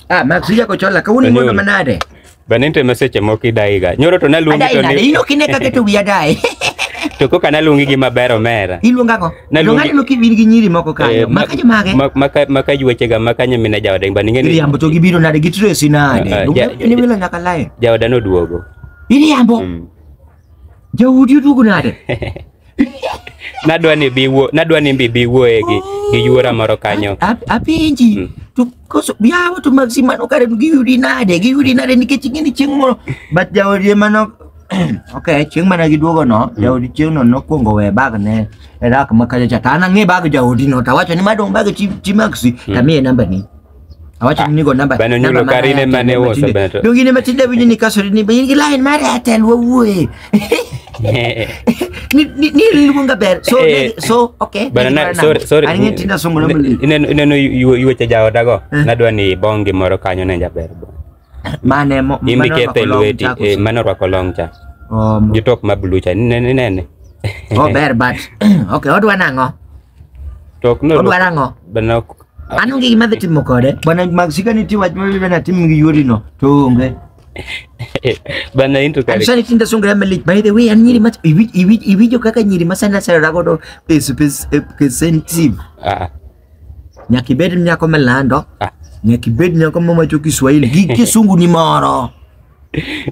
Ah, Max yako chola ka uni mondo Anyol. manade. Bende nitie meseche moko idaiga. Nyoro to naluongi Adai to nade? ni Ino kine kake to wiya dai. to koka naluongi gi maber omera. Iluonga go. Naluongi- Luonga ni loki win gi nyiri moko Eh, kanyo. ma- Maka jo mage. ma- maka- Maka yuechega maka nyamine jaoda imba ninge ni Iriambo to gibiro nade gi Tracy Ah, ah, nade. ja- Luonga ni wilo nyaka lae. jaoda noduogo. Iriambo. Mm. Jaudi oduogo nade? Nadwa ni bi wuo, nadwa ni bi bi wuoye gi gi yuora moro kanyo. A- Apenji. Mm. To koso yawa to Maxi mano kare to giyudi nade? Giyudi nade nikech ing'e ni chieng' moro but jaodi ema no Okay, chieng' mana giduogo no, jaodi chieng' no nokwongo we bag ne e rak ma kacha cha. To an ang'e bag jaodi no, tawacho ni madong' bag chi chi Maxi, tamiye namba ni. Awacho ni go namba. Bana nyulo namba karine mara mane Airtel woso matinde. bana. Donge ne matinde winyo ni kaso ni bayin gi line mar Airtel wawuoye. Ni ni ni luonga ber. So Eh. ne- so okay. Bana na sorry sorry. Ani ng'e tinda somo namba. Ineno ineno yuweche jaodago. Eh. Nadwa ni bongi moro kanyo ne jaber. bwana. Mane mo mane orwako Imikethe long lweti chako eh, mane orwako long cha Oh, mo- gi top ma blue cha nene nene oh, ber but okay, odwa nang'o? tok no Odwa nang'o? bana An onge gima dhi timo kode. Bwana Maxika nitie wach ma bibena tim gi yori no to onge. bana into An kare sani tinda songa ya malik. By the way, an nyiri mach iwinjo kaka nyiri masana sara godo pes pes eh, pes sensitive. ah Nyaka ibed nyako malando. Ah. Nyaka ibed nyako mawacho Kiswahili gi kisungu ni moro.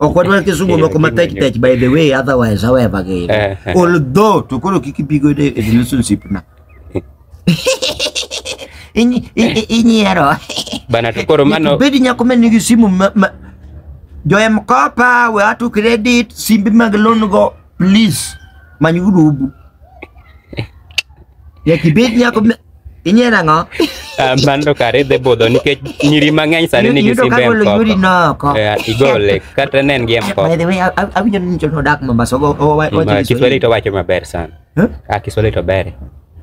Ok wadwar kisungu moko matek tek by the way otherwise however gi. Eh. Although to koro kik ibigo e e relationship na. Inyi- i- i- Inyiero. Bana to koro mano Bedi nyako ma nigi simu ma, ma jo M-Kopa, we ato credit, simbe mag loan go Please, many group. Ya kibet ni ako inye na nga. Ah, Mando kare dhi budho nikech nyiri mang'eny sani nigi Yudo simbe ka golo yuri mkopo. na ako. Eh, Igole kata ne en gi By mkopo. the way, awinjo ni nchono dak Mombasa. Kiswahili to wacho maber sana. Huh? Ah, Kiswahili to ber.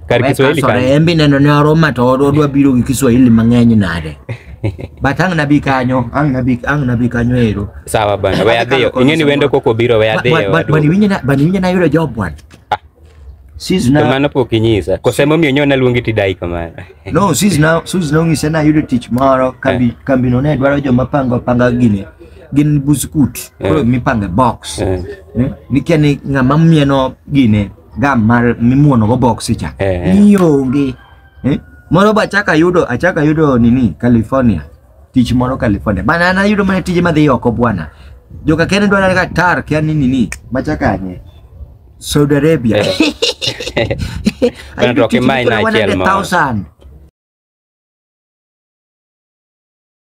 Kar Weka Kiswahili sore, kanyo. embi neno ne oroma to odwa biro gi Kiswahili mang'eny nade. But ang' nabi kanyo, ang' nabi ang' nabi kanyo ero. Sawa bana, we adhiyo. Ing'eni wendo koko biro we adhiyo. Bani wadugu. winyo na bani winyo na yudo job bwana. Ah. Sis To na mano pok inyisa. Kose momiyo nyo naluongi tidai kamano. no sis na sis na ong'ise na yudo tich moro kambi kambi no ne dwaro joma pango panga gini. Gin buskut. Koro Eh. mipange box. Eh. Eh, Nikia ni ng'ama mieno gine gam mar mimuono go boksi cha Eh. ni onge eh? moro ba achaka yudo achaka yudo nini California tich moro California bana an ayudo mana tije madhi oko bwana joka kene dwara ka tar kia nini ni machaka nye Saudi Arabia Bana to ok imany na achiel moro. 100,000